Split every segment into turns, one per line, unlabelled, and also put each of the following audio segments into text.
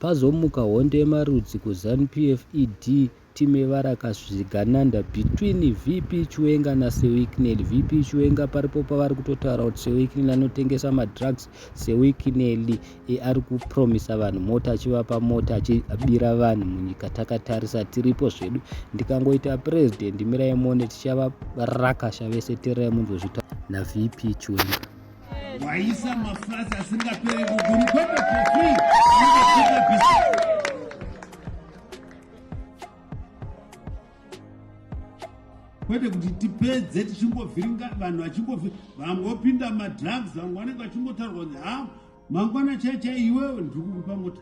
Pazomuka hondo yemarudzi kuZanu PF ED time varakasvigananda between VP Chiwenga naSewikineli. VP Chiwenga paripo pavari kutotaura kuti Sewikineli anotengesa madrugs. Sewikineli e, ari kupromisa vanhu mota achivapa mota achibira vanhu munyika. Takatarisa tiripo zvedu. Ndikangoita president mirai muone tichavarakasha vese tererai munzozvita naVP Chiwenga. waisa
mafurazi asingapere kuguru kwete kofii kwete kuti tipedze tichingovhiringa vanhu vachingovhi vangopinda madrugs vamwe vanenge vachingotaurwa kunzi ha mangwana chaichai iwewe ndiri kukupa mota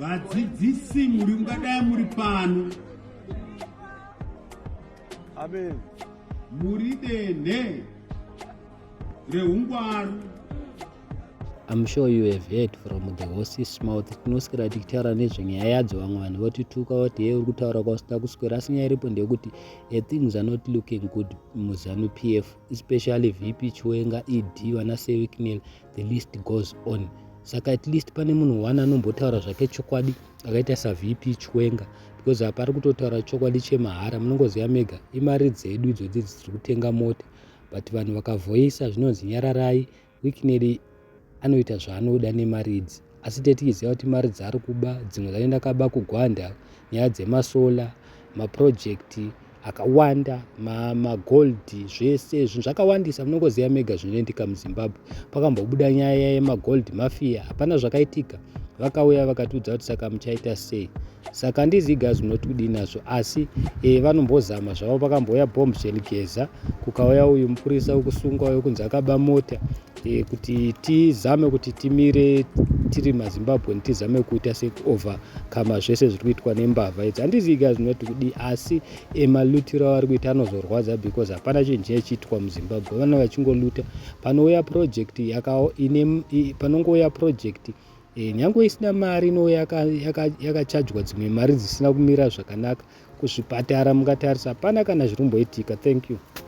vadzidzisi muri mungadai muri pano
amen muri
denhe reungwaru
I'm sure you have heard from the horse's mouth tinoswera tichitaura nezvenyaya yadzo vamwe vanhu votituka voti hei uri kutaura kwausina kuswera asi nyaya iripo ndeyekuti a things are not looking good muzanu p f especially vp chiwenga ed vana sewicknel the list goes on saka at least pane munhu one anombotaura zvake chokwadi akaita savp chwenga because apa ari kutotaura chokwadi chemahara munongoziva mega imari dzedu idzodzi dziri kutenga mota but vanhu vakavoisa zvinonzi nyararai wikineri anoita zvaanoda nemari idzi asi tetikiziva kuti mari dzaari kuba dzimwe dzacho ndakaba kugwanda nyaya dzemasola maprojekti akawanda magold ma zvese zvinhu zvakawandisa munongoziva mega zvinoendika muzimbabwe pakambobuda nyaya yemagold mafia hapana zvakaitika vakauya vakatiudza kuti saka muchaita sei saka ndizigas munoti kudii nazvo asi e, vanombozama zvavo pakambouya bombshen geza kukauya uyu mupurisa wekusungwa wekunzi akaba mota e, kuti tizame kuti timire tiri mazimbabwean tizame kuita sekuovercome zvese zviri kuitwa nembavha idzi handizivi ka zvinoti kudii asi emalutiro avari kuita anozorwadza because hapana chinhu chinye chiitwa muzimbabwe vana vachingoluta panouya project panongouya project e, nyange isina mari inouya yakachajwa dzimwe mari dzisina kumira zvakanaka kuzvipatara mungatarisa hapana kana zviri kumboitika thank you